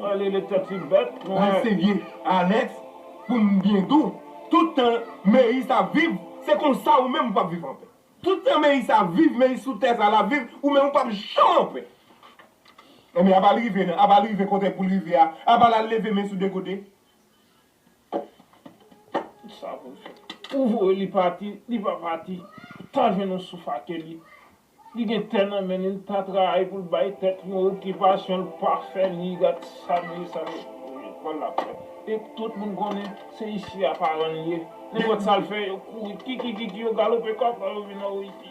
Alele tèt li bèt mwen. Anseye Alex pou m byen dou tout tan Meyis ap viv se konsa ou menm ou pap viv anpè tout tan Meyis ap viv Meyis sou tè sa lap viv ou menm ou pap janm anpè enben aba l rive nan aba l rive kote pou l rive a aba l al leve men sou de kote. Sa pou l fè. Ou voye li pati li pa pati ou ta jwenn yon souf ake li. Li gen tè nan menn li li pa travay poul bay tèt li yon okipasyon li pa fè ni gad sa meri sa meri lekòl lap fè e tout moun konnen se isi a paran li ye nenpòt sal fè yo kouri kikikiki yo galope kòk yo vin nan Oyiti.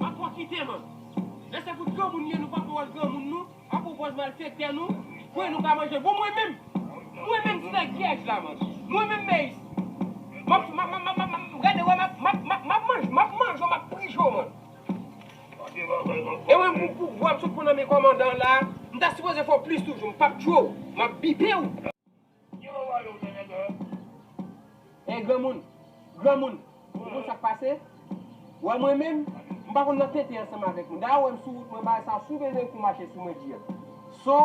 Map profite man. Lè se pou granmoun ye nou pa pran wòl granmoun nou a pwopòz malfektè nou kwè nou ka manje bon mwen menm mwen menm ti nèg vyèj la man mwen menm meyis map map map map map gade wè map map map map manje map manje w map prije w man e mwen pou pou vwa m sot pran nan men kòmandan la m ta sipoze fè w plis toujou m pap tchwe w map bipe w. Ki ou voye ou te gen dèyè? Hey granmoun! Granmoun! Ou konn sak pase? Wè mwen menm, m pa konn nan tenten ansanm avèk moun. Dayè ou wèm sou wout mwen bagay sa si ou bezwen kou mache sou mwen dil. So,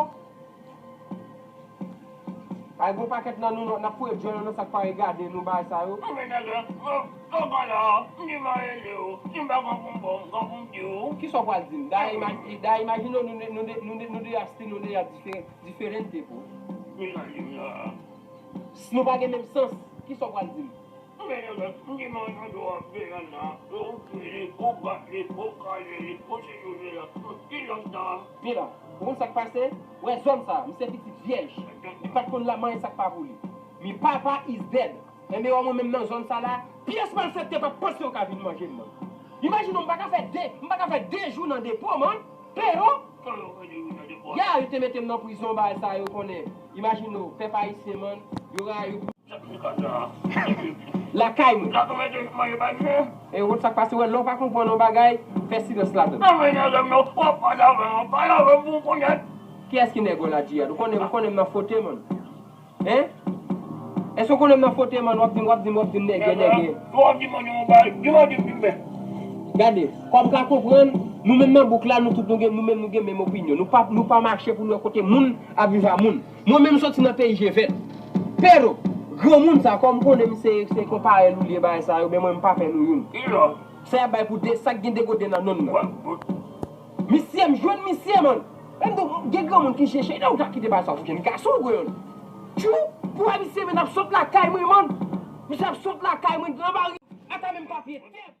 ay gon pakèt nan nou nap foye dyòl nou nan sak parèy gade nou bagay sa yo. Anfen nègè, ou pa la, m ki va rele ou, si m pa gen pou m ba w m gen pou m di ou. Kisa ou pral dim? Dayè imajine w nou 2 asti nou 2 ya diferan. Diferente pou Min nan lim nan an. S nou pa gen menm sans, ki sa w pral di m? Ou gen yon lòt m ki mò nan do an peyèn nan an, e ou pi li, ou bat li, ou kale li, ou toujou li lan tout, ki lòt dan an? Mila, ou konn sa k pase? Ou wè zòn sa a, m se pitit vyèj. Li pa t konn la m anyen sa k pa pou li. Mi papa is dead. Andeyo mwen menm nan zòn sa la pyès malfèktè pap panse yo ka vin manjem man. Imajine w m paka fè 2 m paka fè 2 jou nan depo man Pero ya yo te metem nan prizon bagay sa yo konnen imajine w pèp ayisyen man yo rayiw pou lakay mwen e wont sak pase wè lè w pa konprann yon bagay fè silans ladann. Kiyès ki nèg w la Djihad ou konnen m nan fote man. Hein? Eske w konnen m nan fote man wap di m wap di m wap di m nègè nègè. Ou ap di m yon bagay, di m an di m di m men. Gade, kòm w ka konprann, nou menm nan bouk la nou tout nou gen nou menm nou gen menm opinyon. Nou pa nou pa mache pou nou wè kote moun ap viv a moun. Mwen menm m soti nan peyi je vèt. Pero, granmoun sa kòm m konnen m se se kon parèy nou liye bagay sa yo men mwen m pa fè nou youn. Sa y ap bay pou 2 sa k gen 2 goden nan nonm nan. Misye m jwenn misye man. Lem di w gen granmoun ki je chèy dew ka kite bagay sa ou fouke m ka sou w grann. Tjou pou a misye men ap sot lakay mwen man. Misye ap sot lakay mwen gran bari ata menm papye tè.